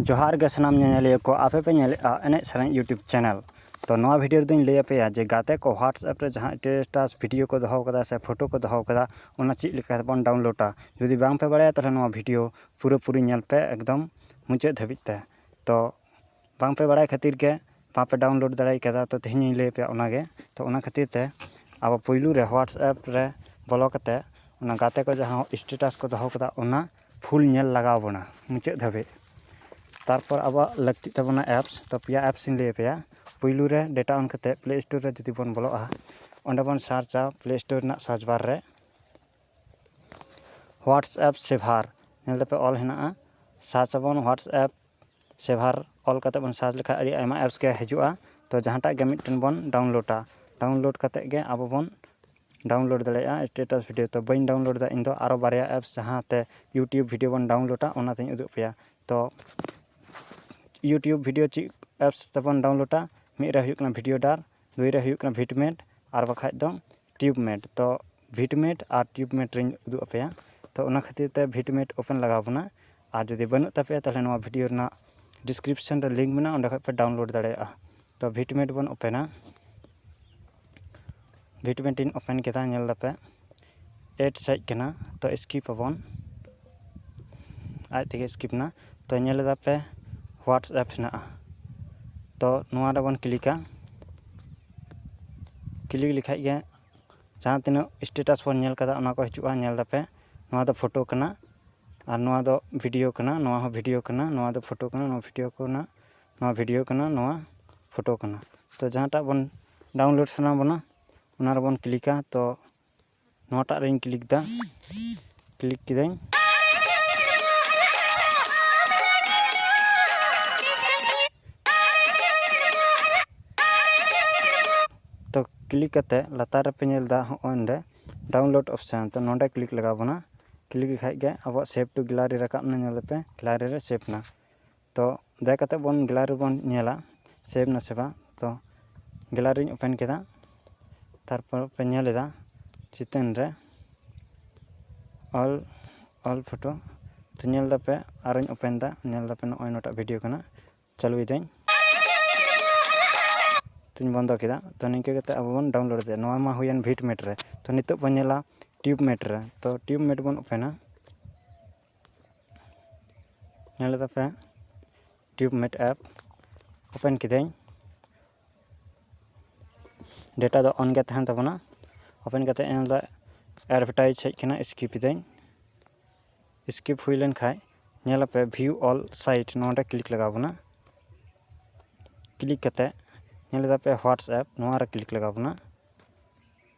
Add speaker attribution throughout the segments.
Speaker 1: ᱡᱚᱦᱟᱨ ᱜᱮ ᱥᱟᱱᱟᱢ ᱧᱮᱧᱮᱞᱤᱭᱟᱹ ᱠᱚ ᱟᱯᱮ ᱯᱮ ᱧᱮᱞᱮᱫᱼᱟ ᱮᱱᱮᱡ ᱥᱮᱨᱮᱧ ᱤᱭᱩᱴᱩᱵᱽ ᱪᱮᱱᱮᱞ ᱛᱚ ᱱᱚᱣᱟ ᱵᱷᱤᱰᱤᱭᱳ ᱨᱮᱫᱚᱧ ᱞᱟᱹᱭ ᱟᱯᱮᱭᱟ ᱡᱮ ᱜᱟᱛᱮ ᱠᱚ ᱦᱳᱣᱟᱴᱥᱮᱯ ᱨᱮ ᱡᱟᱦᱟᱸ ᱥᱴᱮᱴᱟᱥ ᱵᱷᱤᱰᱤᱭᱳ ᱠᱚ ᱫᱚᱦᱚ ᱠᱟᱫᱟ ᱥᱮ ᱯᱷᱳᱴᱳ ᱠᱚ ᱫᱚᱦᱚ ᱠᱟᱫᱟ ᱚᱱᱟ ᱪᱮᱫ ᱞᱮᱠᱟ ᱛᱮᱵᱚᱱ ᱰᱟᱣᱩᱱᱞᱳᱰᱟ ᱡᱩᱫᱤ ᱵᱟᱝ ᱯᱮ ᱵᱟᱲᱟᱭᱟ ᱛᱟᱦᱚᱞᱮ ᱱᱚᱣᱟ ᱵᱷᱤᱰᱤᱭᱳ ᱯᱩᱨᱟᱹᱯᱩᱨᱤ ᱧᱮᱞ ᱯᱮ ᱮᱠᱫᱚᱢ ᱢᱩᱪᱟᱹᱫ ᱫᱷᱟᱹᱵᱤᱡ ᱛᱮ ᱛᱚ ᱵᱟᱝ ᱯᱮ ᱵᱟᱲᱟᱭ ᱠᱷᱟᱹᱛᱤᱨ ᱜᱮ ᱵᱟᱝ ᱯᱮ ᱰᱟᱣᱩᱱᱞᱳᱰ ᱫᱟᱲᱮ ᱠᱟᱣᱫᱟ ᱛᱚ ᱛᱮᱦᱮᱧ ᱤᱧ ᱞᱟᱹᱭ ᱟᱯᱮᱭᱟ ᱚᱱᱟ ᱜᱮ ᱛᱚ ᱚᱱᱟ ᱠᱷᱟᱹᱛᱤᱨ ᱛᱮ ᱟᱵᱚ ᱯᱩᱭᱞᱩ ᱨᱮ ᱦᱳᱣᱟᱴᱥᱮᱯ ᱨᱮ ᱵᱚᱞᱚ ᱠᱟᱛᱮ ᱚᱱᱟ ᱜᱟᱛᱮ ᱠᱚ ᱡᱟᱦᱟᱸ ᱮᱥᱴᱮᱴᱟᱥ ᱠᱚ ᱫᱚᱦᱚ ᱠᱟᱫᱟ ᱚᱱᱟ ᱯᱷᱩᱞ ᱧᱮᱞ ᱞᱟᱜᱟᱣ ᱵᱚᱱᱟ ᱢᱩᱪᱟᱹᱫ ᱫᱷᱟᱹᱵᱤᱡ ᱛᱟᱨᱯᱚᱨ ᱟᱵᱚᱣᱟᱜ ᱞᱟᱹᱠᱛᱤᱜ ᱛᱟᱵᱚᱱᱟ ᱮᱯᱥ ᱛᱚ ᱯᱮᱭᱟ ᱮᱯᱥ ᱤᱧ ᱞᱟᱹᱭ ᱟᱯᱮᱭᱟ ᱯᱩᱭᱞᱩ ᱨᱮ ᱰᱮᱴᱟ ᱚᱱ ᱠᱟᱛᱮ ᱯᱞᱮ ᱥᱴᱳᱨ ᱨᱮ ᱡᱩᱫᱤ ᱵᱚᱱ ᱵᱚᱞᱚᱜᱼᱟ ᱚᱸᱰᱮ ᱵᱚᱱ ᱥᱟᱨᱪᱟ ᱯᱞᱮ ᱥᱴᱳᱨ ᱨᱮᱱᱟᱜ ᱥᱟᱨᱪ ᱵᱟᱨ ᱨᱮ ᱦᱳᱣᱟᱴᱥᱮᱯ ᱥᱮᱵᱷᱟᱨ ᱧᱮᱞ ᱫᱟᱯᱮ ᱚᱞ ᱦᱮᱱᱟᱜᱼᱟ ᱥᱟᱨᱪ ᱟᱵᱚᱱ ᱦᱳᱣᱟᱴᱥᱮᱯ ᱥᱮᱵᱷᱟᱨ ᱚᱞ ᱠᱟᱛᱮ ᱵᱚᱱ ᱥᱟᱨᱪ ᱞᱮᱠᱷᱟᱡ ᱟᱹᱰᱤ ᱟᱭᱢᱟ ᱮᱯᱥ ᱜᱮ ᱦᱤᱡᱩᱜᱼᱟ ᱛᱚ ᱡᱟᱦᱟᱸᱴᱟᱜ ᱜᱮ ᱢᱤᱫᱴᱮᱱ ᱵᱚᱱ ᱰᱟᱣᱩᱱᱞᱳᱰᱟ ᱰᱟᱣᱩᱱᱞᱳᱰ ᱠᱟᱛᱮ ᱜᱮ ᱟᱵᱚ ᱵᱚᱱ ᱰᱟᱣᱩᱱᱞᱳᱰ ᱫᱟᱲᱮᱭᱟᱜᱼᱟ ᱮᱥᱴᱮᱴᱟᱥ ᱵᱷᱤᱰᱭᱳ ᱛᱚ ᱵᱟᱹᱧ ᱰᱟᱣᱩᱱᱞᱳᱰ ᱫᱟ ᱤᱧ ᱫᱚ ᱟᱨᱚ ᱵᱟᱨᱭᱟ ᱮᱯᱥ ᱡᱟᱦᱟᱸᱛᱮ ᱤᱭᱩᱴᱩᱵᱽ ᱵᱷᱤᱰᱭᱳ ᱵᱚᱱ ᱰᱟᱣᱩᱱᱞᱳᱰᱟ ᱚᱱᱟᱛᱤᱧ ᱩᱫᱩᱜ ᱟᱯᱮᱭᱟ ᱛᱚ ᱤᱭᱩᱴᱩᱵᱽ ᱵᱷᱤᱰᱭᱳ ᱪᱮᱫ ᱮᱯᱥ ᱛᱮᱵᱚᱱ ᱰᱟᱣᱩᱱᱞᱳᱰᱟ ᱢᱤᱫ ᱨᱮ ᱦᱩᱭᱩᱜ ᱠᱟᱱᱟ ᱵᱷᱤᱰᱭᱳ ᱰᱟᱨ ᱫᱩᱭ ᱨᱮ ᱦᱩᱭᱩᱜ ᱠᱟᱱᱟ ᱵᱷᱤᱴ ᱢᱮᱴ ᱟᱨ ᱵᱟᱠᱷᱟᱡ ᱫᱚ ᱴᱤᱭᱩᱵᱽ ᱢᱮᱴ ᱛᱚ ᱵᱷᱤᱴ ᱢᱮᱴ ᱟᱨ ᱴᱤᱭᱩᱵᱽ ᱢᱮᱴ ᱨᱮᱧ ᱩᱫᱩᱜ ᱟᱯᱮᱭᱟ ᱛᱚ ᱚᱱᱟ ᱠᱷᱟᱹᱛᱤᱨ ᱛᱮ ᱵᱷᱤᱴ ᱢᱮᱴ ᱳᱯᱮᱱ ᱞᱟᱜᱟᱣ ᱵᱚᱱᱟ ᱟᱨ ᱡᱩᱫᱤ ᱵᱟᱹᱱᱩᱜ ᱛᱟᱯᱮᱭᱟ ᱛᱟᱦᱚᱞᱮ ᱱᱚᱣᱟ ᱵᱷᱤᱰᱤᱭᱳ ᱨᱮᱱᱟᱜ ᱰᱤᱥᱠᱨᱤᱯᱥᱮᱱ ᱨᱮ ᱞᱤᱝᱠ ᱢᱮᱱᱟᱜᱼᱟ ᱚᱸᱰᱮ ᱠᱷᱚᱡ ᱯᱮ ᱰᱟᱣᱩᱱᱞᱳᱰ ᱫᱟᱲᱮᱭᱟᱜᱼᱟ ᱛᱚ ᱵᱷᱤᱴ ᱢᱮᱴ ᱵᱚᱱ ᱳᱯᱮᱱᱟ ᱵᱷᱤᱴ ᱢᱮᱴ ᱤᱧ ᱳᱯᱮᱱ ᱠᱮᱫᱟ ᱧᱮᱞ ᱫᱟᱯᱮ ᱮᱰ ᱦᱮᱡ ᱠᱟᱱᱟ ᱛᱚ ᱥᱠᱤᱯ ᱟᱵᱚᱱ ᱟᱡ ᱛᱮᱜᱮ ᱥᱠᱤᱯ ᱮᱱᱟ ᱛᱚ ᱧᱮᱞ ᱫᱟᱯᱮ ᱦᱳᱣᱟᱴᱥᱮᱯ ᱦᱮᱱᱟᱜᱼᱟ ᱛᱚ ᱱᱚᱣᱟ ᱨᱮᱵᱚᱱ ᱠᱞᱤᱠᱟ ᱠᱞᱤᱠ ᱞᱮᱠᱷᱟᱡ ᱜᱮ ᱡᱟᱦᱟᱸ ᱛᱤᱱᱟᱹᱜ ᱥᱴᱮᱴᱟᱥ ᱵᱚᱱ ᱧᱮᱞ ᱠᱟᱫᱟ ᱚᱱᱟ ᱠᱚ ᱦᱤᱡᱩᱜᱼᱟ ᱧᱮᱞ ᱫᱟᱯᱮ ᱱᱚᱣᱟ ᱫᱚ ᱯᱷᱳᱴᱳ ᱠᱟᱱᱟ ᱟᱨ ᱱᱚᱣᱟ ᱫᱚ ᱵᱷᱤᱰᱤᱭᱳ ᱠᱟᱱᱟ ᱱᱚᱣᱟ ᱦᱚᱸ ᱵᱷᱤᱰᱤᱭᱳ ᱠᱟᱱᱟ ᱱᱚᱣᱟ ᱫᱚ ᱯᱷᱳᱴᱳ ᱠᱟᱱᱟ ᱱᱚᱣᱟ ᱵᱷᱤᱰᱤᱭᱳ ᱠᱟᱱᱟ ᱱᱚᱣᱟ ᱵᱷᱤᱰᱤᱭᱳ ᱠᱟᱱᱟ ᱱᱚᱣᱟ ᱯᱷᱳᱴᱳ ᱠᱟᱱᱟ ᱛᱚ ᱡᱟᱦᱟᱸᱴᱟᱜ ᱵᱚᱱ ᱰᱟᱣᱩᱱᱞᱳᱰ ᱥᱟᱱᱟ ᱵᱚᱱᱟ ᱚᱱᱟ ᱨᱮᱵᱚᱱ ᱠᱞᱤᱠᱟ ᱛᱚ ᱱᱚᱣᱟᱴᱟᱜ ᱨᱤᱧ ᱠᱞᱤᱠ ᱮᱫᱟ ᱠᱞᱤᱠ ᱠᱤᱫᱟᱹᱧ ᱛᱚ ᱠᱞᱤᱠ ᱠᱟᱛᱮ ᱞᱟᱛᱟᱨ ᱨᱮᱯᱮ ᱧᱮᱞ ᱮᱫᱟ ᱦᱚᱸᱜᱼᱚᱭ ᱱᱚᱰᱮ ᱰᱟᱣᱩᱱᱞᱳᱰ ᱚᱯᱥᱮᱱ ᱛᱚ ᱱᱚᱰᱮ ᱠᱞᱤᱠ ᱞᱟᱜᱟᱣ ᱵᱚᱱᱟ ᱠᱞᱤᱠ ᱞᱮᱠᱷᱟᱡ ᱜᱮ ᱟᱵᱚᱣᱟᱜ ᱥᱮᱵᱷ ᱴᱩ ᱜᱮᱞᱟᱨᱤ ᱨᱟᱠᱟᱵ ᱮᱱᱟ ᱧᱮᱞ ᱫᱟᱯᱮ ᱜᱮᱞᱟᱨᱤ ᱨᱮ ᱥᱮᱵᱷ ᱮᱱᱟ ᱛᱚ ᱵᱮᱠ ᱠᱟᱛᱮ ᱵᱚᱱ ᱜᱮᱞᱟᱨᱤ ᱨᱮᱵᱚᱱ ᱧᱮᱞᱟ ᱥᱮᱵᱷ ᱱᱟᱥᱮ ᱵᱟᱝ ᱛᱚ ᱜᱮᱞᱟᱨᱤᱧ ᱳᱯᱮᱱ ᱠᱮᱫᱟ ᱛᱟᱨᱯᱚᱨ ᱯᱮ ᱧᱮᱞ ᱮᱫᱟ ᱪᱤᱛᱟᱹᱨ ᱨᱮ ᱚᱞ ᱚᱞ ᱯᱷᱳᱴᱳ ᱛᱚ ᱧᱮᱞ ᱫᱟᱯᱮ ᱟᱨᱚᱧ ᱳᱯᱮᱱ ᱫᱟ ᱧᱮᱞ ᱫᱟᱯᱮ ᱱᱚᱜᱼᱚᱭ ᱱᱚᱣᱟᱴᱟᱜ ᱵᱷᱤᱰᱤᱭᱳ ᱠᱟᱱᱟ ᱪᱟᱹᱞᱩᱭᱮᱫᱟᱹᱧ ᱛᱚᱧ ᱵᱚᱱᱫᱚ ᱠᱮᱫᱟ ᱛᱚ ᱱᱤᱝᱠᱟᱹ ᱠᱟᱛᱮ ᱟᱵᱚ ᱵᱚᱱ ᱰᱟᱣᱩᱱᱞᱳᱰ ᱫᱟᱲᱮᱭᱟᱜᱼᱟ ᱱᱚᱣᱟ ᱢᱟ ᱦᱩᱭᱮᱱ ᱵᱷᱤᱴ ᱢᱮᱴ ᱨᱮ ᱛᱚ ᱱᱤᱛᱚᱜ ᱵᱚᱱ ᱧᱮᱞᱟ ᱴᱤᱭᱩᱵᱽ ᱢᱮᱴ ᱨᱮ ᱛᱚ ᱴᱤᱭᱩᱵᱽ ᱢᱮᱴ ᱵᱚᱱ ᱳᱯᱮᱱᱟ ᱧᱮᱞ ᱞᱮᱫᱟ ᱯᱮ ᱴᱤᱭᱩᱵᱽ ᱢᱮᱴ ᱮᱯ ᱳᱯᱮᱱ ᱠᱤᱫᱟᱹᱧ ᱰᱮᱴᱟ ᱫᱚ ᱚᱱ ᱜᱮ ᱛᱟᱦᱮᱱ ᱛᱟᱵᱚᱱᱟ ᱳᱯᱮᱱ ᱠᱟᱛᱮ ᱧᱮᱞ ᱫᱟ ᱮᱰᱵᱷᱮᱴᱟᱭᱤᱡᱽ ᱦᱮᱡ ᱠᱟᱱᱟ ᱤᱥᱠᱤᱯ ᱤᱫᱟᱹᱧ ᱤᱥᱠᱤᱯ ᱦᱩᱭ ᱞᱮᱱᱠᱷᱟᱡ ᱧᱮᱞᱟᱯᱮ ᱵᱷᱤᱭᱩ ᱚᱞ ᱥᱟᱭᱤᱴ ᱱᱚᱰᱮ ᱠᱞᱤᱠ ᱞᱟᱜᱟᱣ ᱵᱚᱱᱟ ᱠᱞᱤᱠ ᱠᱟᱛᱮ ᱧᱮᱞ ᱫᱟᱯᱮ ᱦᱳᱣᱟᱴᱥᱮᱯ ᱱᱚᱣᱟᱨᱮ ᱠᱞᱤᱠ ᱞᱟᱜᱟᱣ ᱵᱚᱱᱟ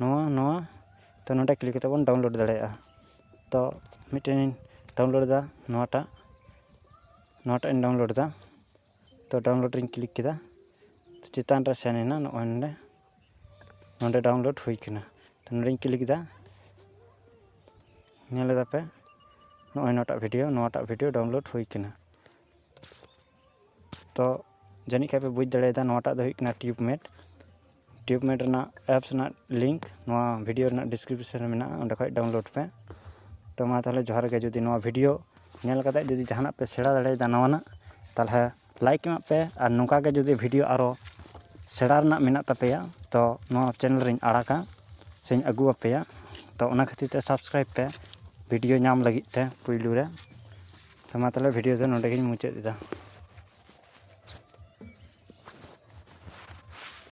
Speaker 1: ᱱᱚᱣᱟ ᱱᱚᱣᱟ ᱛᱚ ᱱᱚᱰᱮ ᱠᱞᱤᱠ ᱠᱟᱛᱮᱫ ᱵᱚᱱ ᱰᱟᱣᱩᱱᱞᱳᱰ ᱫᱟᱲᱮᱭᱟᱜᱼᱟ ᱛᱚ ᱢᱤᱫᱴᱮᱱ ᱤᱧ ᱰᱟᱣᱩᱱᱞᱳᱰ ᱮᱫᱟ ᱱᱚᱣᱟᱴᱟᱜ ᱱᱚᱣᱟᱴᱟᱜ ᱤᱧ ᱰᱟᱣᱩᱱᱞᱳᱰ ᱮᱫᱟ ᱛᱚ ᱰᱟᱣᱩᱱᱞᱳᱰ ᱨᱤᱧ ᱠᱞᱤᱠ ᱠᱮᱫᱟ ᱪᱮᱛᱟᱱ ᱨᱮ ᱥᱮᱱ ᱮᱱᱟ ᱱᱚᱜᱼᱚᱭ ᱱᱚᱰᱮ ᱱᱚᱰᱮ ᱰᱟᱣᱩᱱᱞᱳᱰ ᱦᱩᱭ ᱠᱟᱱᱟ ᱛᱚ ᱱᱚᱰᱮᱧ ᱠᱞᱤᱠ ᱮᱫᱟ ᱧᱮᱞ ᱮᱫᱟᱯᱮ ᱱᱚᱜᱼᱚᱭ ᱱᱚᱣᱟᱴᱟᱜ ᱵᱷᱤᱰᱭᱳ ᱱᱚᱣᱟᱴᱟᱜ ᱵᱷᱤᱰᱭᱳ ᱰᱟᱣᱩᱱᱞᱳᱰ ᱦᱩᱭ ᱠᱟᱱᱟ ᱛᱚ ᱡᱟᱹᱱᱤᱡ ᱠᱷᱟᱡ ᱯᱮ ᱵᱩᱡᱽ ᱫᱟᱲᱮᱭᱟᱫᱟ ᱱᱚᱣᱟᱴᱟᱜ ᱫᱚ ᱦᱩᱭᱩᱜ ᱠᱟᱱᱟ ᱴᱤᱭᱩᱵᱽ ᱢᱮᱴ ᱴᱤᱭᱩᱵᱽ ᱢᱮᱴ ᱨᱮᱱᱟᱜ ᱮᱯᱥ ᱨᱮᱱᱟᱜ ᱞᱤᱝᱠ ᱱᱚᱣᱟ ᱵᱷᱤᱰᱤᱭᱳ ᱨᱮᱱᱟᱜ ᱰᱤᱥᱠᱨᱤᱯᱥᱮᱱ ᱨᱮ ᱢᱮᱱᱟᱜᱼᱟ ᱚᱸᱰᱮ ᱠᱷᱚᱡ ᱰᱟᱣᱩᱱᱞᱳᱰ ᱯᱮ ᱛᱚ ᱢᱟ ᱛᱟᱦᱚᱞᱮ ᱡᱚᱦᱟᱨ ᱜᱮ ᱡᱩᱫᱤ ᱱᱚᱣᱟ ᱵᱷᱤᱰᱤᱭᱳ ᱧᱮᱞ ᱠᱟᱛᱮ ᱡᱩᱫᱤ ᱡᱟᱦᱟᱱᱟᱜ ᱯᱮ ᱥᱮᱬᱟ ᱫᱟᱲᱮᱭᱟᱫᱟ ᱱᱟᱣᱟᱱᱟᱜ ᱛᱟᱦᱚᱞᱮ ᱞᱟᱭᱤᱠ ᱮᱢᱟᱜ ᱯᱮ ᱟᱨ ᱱᱚᱝᱠᱟ ᱜᱮ ᱡᱩᱫᱤ ᱵᱷᱤᱰᱤᱭᱳ ᱟᱨᱚ ᱥᱮᱬᱟ ᱨᱮᱱᱟᱜ ᱢᱮᱱᱟᱜ ᱛᱟᱯᱮᱭᱟ ᱛᱚ ᱱᱚᱣᱟ ᱪᱮᱱᱮᱞ ᱨᱮᱧ ᱟᱲᱟᱜᱟ ᱥᱮᱧ ᱟᱹᱜᱩ ᱟᱯᱮᱭᱟ ᱛᱚ ᱚᱱᱟ ᱠᱷᱟᱹᱛᱤᱨ ᱛᱮ ᱥᱟᱵᱥᱠᱨᱟᱭᱤᱵᱽ ᱯᱮ ᱵᱷᱤᱰᱤᱭᱳ ᱧᱟᱢ ᱞᱟᱹᱜᱤᱫ ᱛᱮ ᱯᱳᱭᱞᱳ ᱨᱮ ᱛᱚ ᱢᱟ ᱛᱟᱦᱚᱞᱮ ᱵᱷᱤᱰᱤᱭᱳ ᱫᱚ ᱱᱚᱰᱮ ᱜᱤᱧ ᱢᱩᱪᱟᱹᱫ ᱮᱫᱟ